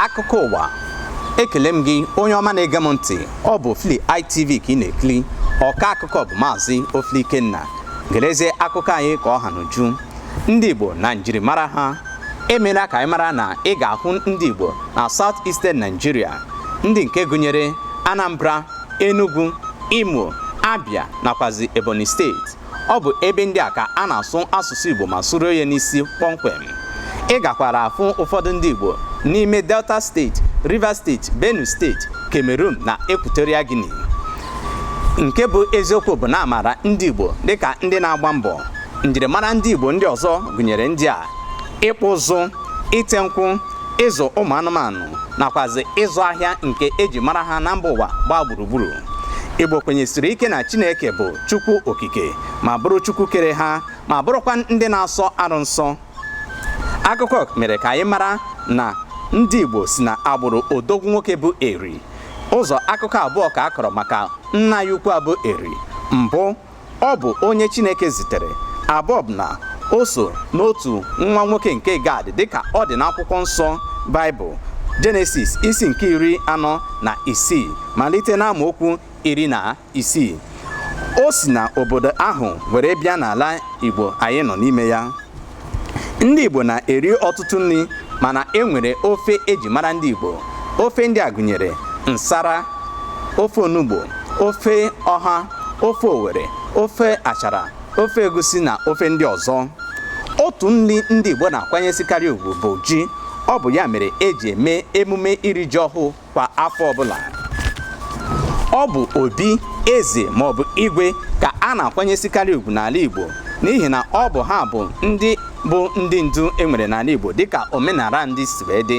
akụkọ ụwa ekele m gị onye ọma na-ege m ntị ọ bụ Ofili ITV ka ị na-ekiri ọka akụkọ bụ maazị Ofili Ikenna gerezie akụkọ anyị ka ọ ha n'uju ndị Igbo na njirimara ha emeela ka anyị mara na ị ga-ahụ ndị Igbo na South Eastern Nigeria ndị nke gụnyere Anambra Enugu Imo Abia nakwazi Ebonyi steeti ọ bụ ebe ndị a ka a na-asụ asụsụ Igbo ma sụrụ ya n'isi kpọmkwem ị gakwara afụ ụfọdụ ndị Igbo n'ime Delta steeti Rivers steeti Benue steeti Cameroon na Equatorial Guinea nke bụ eziokwu bụ na a maara ndị Igbo dịka ndị na-agba mbọ njirimara ndị Igbo ndị ọzọ gụnyere ndị a ịkpụ ụzụ ite nkwụ ịzụ ụmụ anụmanụ nakwazi ịzụ ahịa nke eji mara ha na mba ụwa gbaa gburugburu Igbo kwenyesiri ike na Chineke bụ Chukwu Okike ma bụrụ Chukwu kere ha ma bụrụkwa ndị na-asọ arụ nsọ akụkọ mere ka anyị mara na ndị Igbo si na agbụrụ odogwu nwoke bụ Eri ụzọ akụkọ abụọ ka a kọrọ maka nna ya ukwu a bụ Eri mbụ ọ bụ onye Chineke zitere abụọ bụ na o so n'otu nwa nwoke nke Gad dịka ọ dị n'akwụkwọ nsọ Baịbụl Jenesis isi nke iri anọ na isii malite n'amaokwu iri na isii o si na obodo ahụ were bịa n'ala Igbo anyị nọ n'ime ya ndị Igbo na-eri ọtụtụ nri mana e nwere ofe eji mara ndị Igbo ofe ndị a gụnyere nsara ofe onugbo ofe ọha ofe Owere ofe achara ofe egusi na ofe ndị ọzọ otu nri ndị Igbo na-akwanyesikarị ugwu bụ ji ọ bụ ya mere eji eme emume iri ji ọhụụ kwa afọ ọbụla ọ bụ obi eze maọbụ igwe ka a na-akwanyesikarị ugwu n'ala Igbo n'ihi na ọ bụ ha bụ ndị bụ ndị ndu e nwere n'ala Igbo dịka omenala ndị si wee dị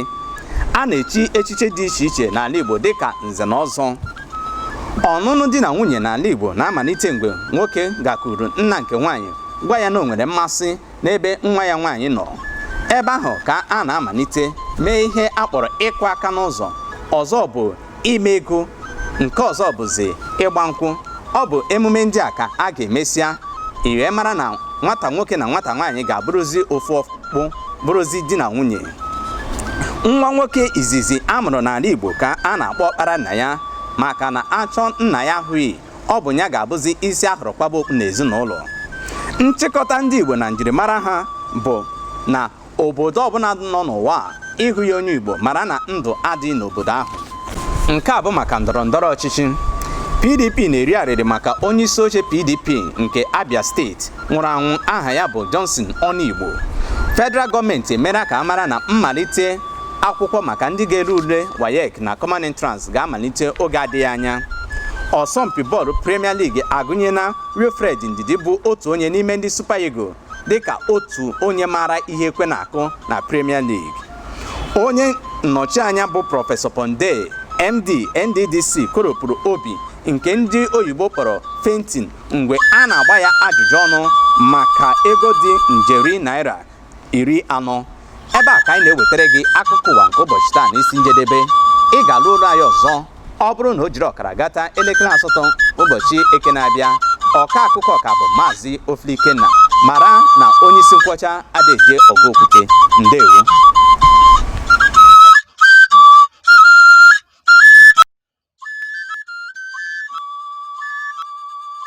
a na-echi echichi dị iche iche n'ala Igbo dịka nze na ọzọ ọnụnụ di na nwunye n'ala Igbo na-amalite mgbe nwoke gakwuru nna nke nwaanyị gwa ya na o nwere mmasị n'ebe nwa ya nwaanyị nọ ebe ahụ ka a na-amalite mee ihe a kpọrọ ịkụ aka n'ụzọ ọzọ bụ ime ego nke ọzọ bụzi ịgba nkwụ ọ bụ emume ndị a ka a ga-emesịa e wee mara na nwata nwoke na nwata nwaanyị ga-abụrụzi ofu ọkpụ bụrụzi di na nwunye nwa nwoke izizi a mụrụ n'ala Igbo ka a na-akpọ ọkpara nna ya maka na a chọọ nna ya a hụghị ọ bụ ya ga-abụzi isi a hụrụ kwaba okpu n'ezinụlọ nchịkọta ndị Igbo na njirimara ha bụ na obodo ọbụla nọ n'ụwa ị hụghị onye Igbo mara na ndụ adịghị n'obodo ahụ nke a bụ maka ndọrọ ndọrọ ọchịchị PDP na-eri arịrị maka onye isi oche PDP nke Abia steeti nwụrụ anwụ aha ya bụ Johnson Onuigbo federal gọọmenti emere ka a mara na mmalite akwụkwọ maka ndị ga-ele ule WAEC na common entrance ga-amalite oge adịghị anya ọsọmpi bọọlụ premier league agụnyela wilfred ndidi bụ otu onye n'ime ndị super eagle dịka otu onye maara ihe ekwe na-akụ na premier league onye nnọchianya bụ prọfesọ Pondei md nddc kọrọpụrụ obi nke ndị oyibo kpọrọ fainting mgbe a na-agba ya ajụjụ ọnụ maka ego dị njeri naira iri anọ ebe a ka anyị na-ewetara gị akụkọ ụwa nke ụbọchị taa na isi njedebe ị ga-anụ olu anyị ọzọ ọ bụrụ na o jiri ọkara gata elekere asatọ ụbọchị eke na-abịa ọka akụkọ ọ ka bụ maazị Ofili Ikenna mara na onye isi nkwọcha Adaeze ọgụ okwute ndewo